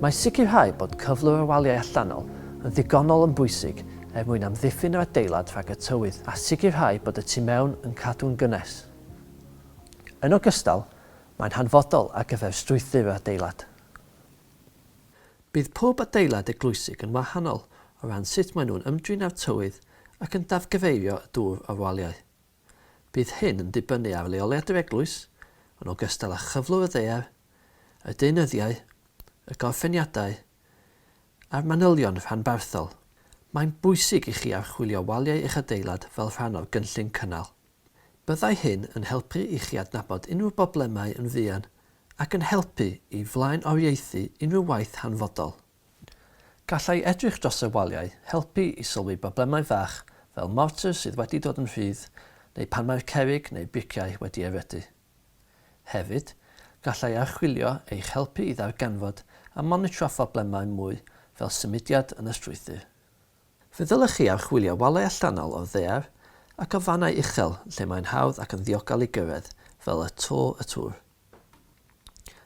Mae sicrhau bod cyflwr y waliau allanol yn ddigonol yn bwysig er mwyn amddiffyn yr adeilad rhag y tywydd a sicrhau bod y tu mewn yn cadw'n gynnes. Yn ogystal, mae'n hanfodol ar gyfer strwythur yr adeilad. Bydd pob adeilad eglwysig yn wahanol o ran sut maen nhw'n ymdrin â'r tywydd ac yn dafgyfeirio y dŵr o'r waliau. Bydd hyn yn dibynnu ar leoliad yr eglwys, yn ogystal â chyflwr y ddaear, y deunyddiau, y gorffeniadau, a'r manylion rhanbarthol. Mae'n bwysig i chi archwilio waliau eich adeilad fel rhan o'r gynllun cynnal. Byddai hyn yn helpu i chi adnabod unrhyw broblemau yn fuan ac yn helpu i flaenoriaethu unrhyw waith hanfodol. Gallai edrych dros y waliau helpu i sylwi broblemau fach fel mortar sydd wedi dod yn rhydd neu pan mae'r cerrig neu briciau wedi erydu. Hefyd, gallai archwilio eich helpu i ddarganfod a monitro phroblemau mwy fel symudiad yn y strwythur. Fe ddylech chi archwilio walau allanol o'r ddaear ac o fannau uchel lle mae'n hawdd ac yn ddiogel i gyrraedd, fel y to y tŵr.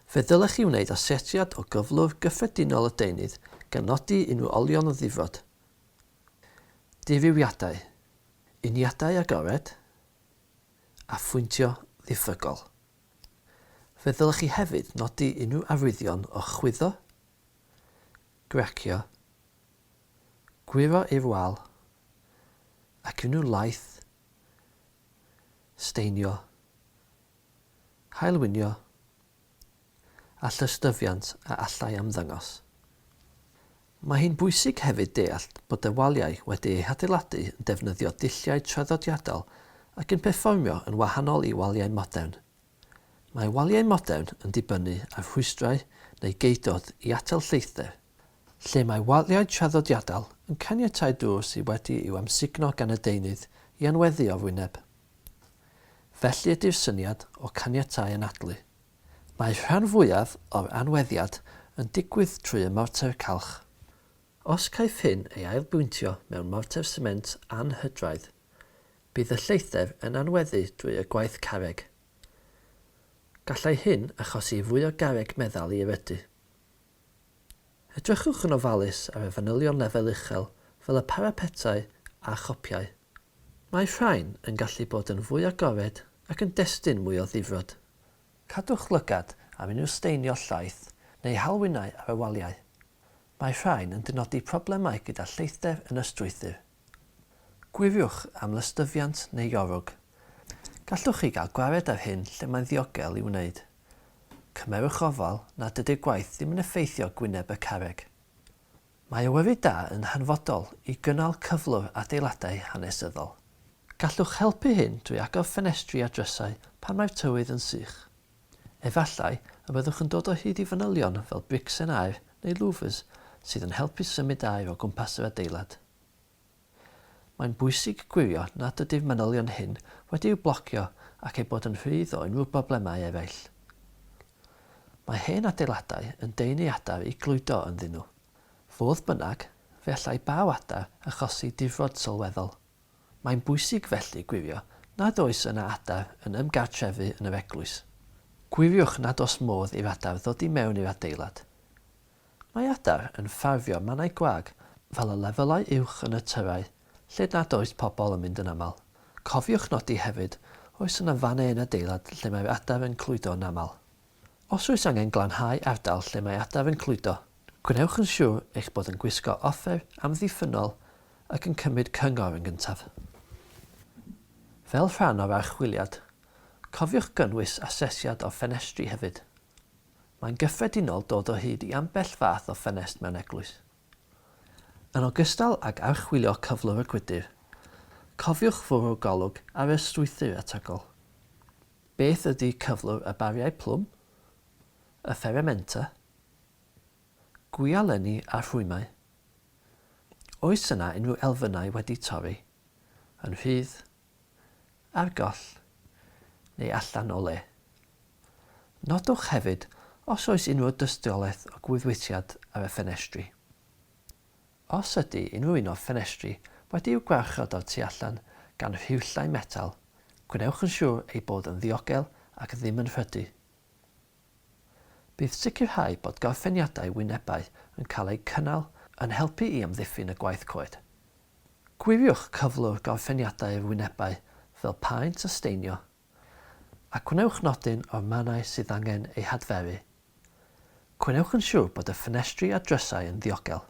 Fe ddylech chi wneud asetiad o gyflwr gyffredinol y deunydd gan nodi unrhyw olion o ddifrod, dirywiadau, uniadau agored, a phwyntio ddiffrygol. Fe ddylech chi hefyd nodi unrhyw arwyddion o chwyddo, gracio, Gwyro i'r wal, ac yn nhw laeth staenio, haelwynio, a llystyfiant a allai ymddangos. Mae hi'n bwysig hefyd deall bod y waliau wedi eu hadeiladu yn defnyddio dulliau traddodiadol ac yn perfformio yn wahanol i waliau modern. Mae waliau modern yn dibynnu ar rhwystrau neu geudod i atal lleithder. lle mae waliau traddodiadol yn caniatáu dŵr sydd wedi i'w amsugno gan y deunydd i anweddu o'r wyneb. Felly ydy'r syniad o caniatáu anadlu. Mae'r rhan fwyaf o'r anweddiad yn digwydd trwy y morter calch. Os caiff hyn ei ailbwyntio mewn morter sement anhydraidd, bydd y lleithder yn anweddu drwy y gwaith carreg. Gallai hyn achosi fwy o garreg meddal i erydu. Edrychwch yn ofalus ar y fanylion lefel uchel fel y parapetau a chopiau. Mae rhain yn gallu bod yn fwy agored ac yn destun mwy o ddifrod. Cadwch lygad ar unrhyw staenio llaeth neu halwinnau ar y waliau. Mae rhain yn dynodi problemau gyda lleithder yn y strwythur. Gwiriwch am lystyfiant neu iorwg. Gallwch chi gael gwared ar hyn lle mae'n ddiogel i'w wneud. Cymerwch ofal nad ydy'r gwaith ddim yn effeithio gwyneb y carreg. Mae awyru da yn hanfodol i gynnal cyflwr adeiladau hanesyddol. Gallwch helpu hyn drwy agor ffenestri a drysau pan mae'r tywydd yn sych. Efallai y byddwch yn dod o hyd i fanylion fel bricsen aer neu louvers sydd yn helpu symud aer o gwmpas yr adeilad. Mae'n bwysig gwirio nad ydy'r manylion hyn wedi'u blocio ac eu bod yn rhydd o unrhyw broblemau eraill. Mae hen adeiladau yn deunu adar i glwydo ynddyn nhw. Fodd bynnag, fe allai baw adar achosi difrod sylweddol. Mae'n bwysig felly gwirio nad oes yna adar yn ymgartrefu yn yr eglwys. Gwiriwch nad oes modd i'r adar ddod i mewn i'r adeilad. Mae adar yn ffafrio mannau gwag fel y lefelau uwch yn y tyrau, lle nad oes pobl yn mynd yn aml. Cofiwch nodi hefyd, oes yna fannau yn adeilad lle mae'r adar yn cludo yn aml? Os oes angen glanhau ardal lle mae adar yn cludo, gwnewch yn siwr eich bod yn gwisgo offer amddiffynnol ac yn cymryd cyngor yn gyntaf. Fel rhan o'r archwiliad, cofiwch gynnwys asesiad o'r ffenestri hefyd. Mae'n gyffredinol dod o hyd i ambell fath o ffenest mewn eglwys. Yn ogystal ag archwilio cyflwr y gwydr, cofiwch fwrw golwg ar y strwythur ategol. Beth ydy cyflwr y bariau plwm, y fferementa, gwialenni a rhwymau? Oes yna unrhyw elfennau wedi torri yn rhydd ar goll neu allan o le. Nodwch hefyd os oes unrhyw dystiolaeth o gwydwythiad ar y ffenestri. Os ydy unrhyw un o'r ffenestri wedi'u gwarchod o'r tu allan gan rhiwllau metal, gwnewch yn siŵr eu bod yn ddiogel ac ddim yn rhydu. Bydd sicrhau bod gorffeniadau wynebau yn cael eu cynnal yn helpu i amddiffyn y gwaith coed. Gwiriwch cyflwr gorffeniadau'r wynebau fel paent a steinio, a gwnewch nodyn o'r mannau sydd angen eu hadferu. Gwnewch yn siŵr bod y ffenestri a drysau yn ddiogel.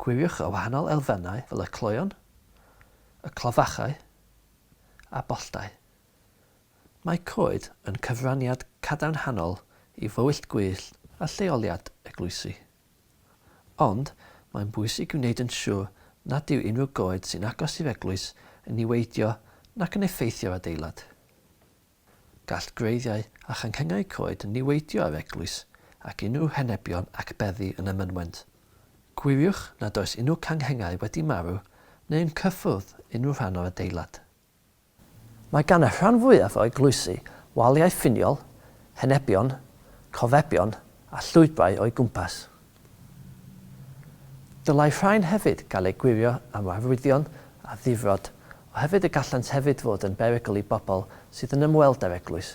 Gwiriwch y wahanol elfennau fel y cloeon, y clofachau, a boltau. Mae coed yn cyfraniad cadarnhaol i fywyllt gwyllt a lleoliad eglwysi. Ond, mae'n bwysig gwneud yn siwr nad yw unrhyw goed sy'n agos i'r eglwys yn niweidio nac yn effeithio'r adeilad. Gall gwreiddiau a changhennau coed niweidio ar eglwys ac unrhyw henebion ac beddi yn y mynwent. Gwiriwch nad oes unrhyw canghennau wedi marw neu yn cyffwrdd unrhyw rhan o'r adeilad. Mae gan y rhan fwyaf o eglwysi waliau ffiniol, henebion, cofebion a llwybrau o'i gwmpas. Dylai rhain hefyd gael eu gwirio am arwyddion a difrod, oherwydd y gallant hefyd fod yn berygl i bobl sydd yn ymweld â'r eglwys.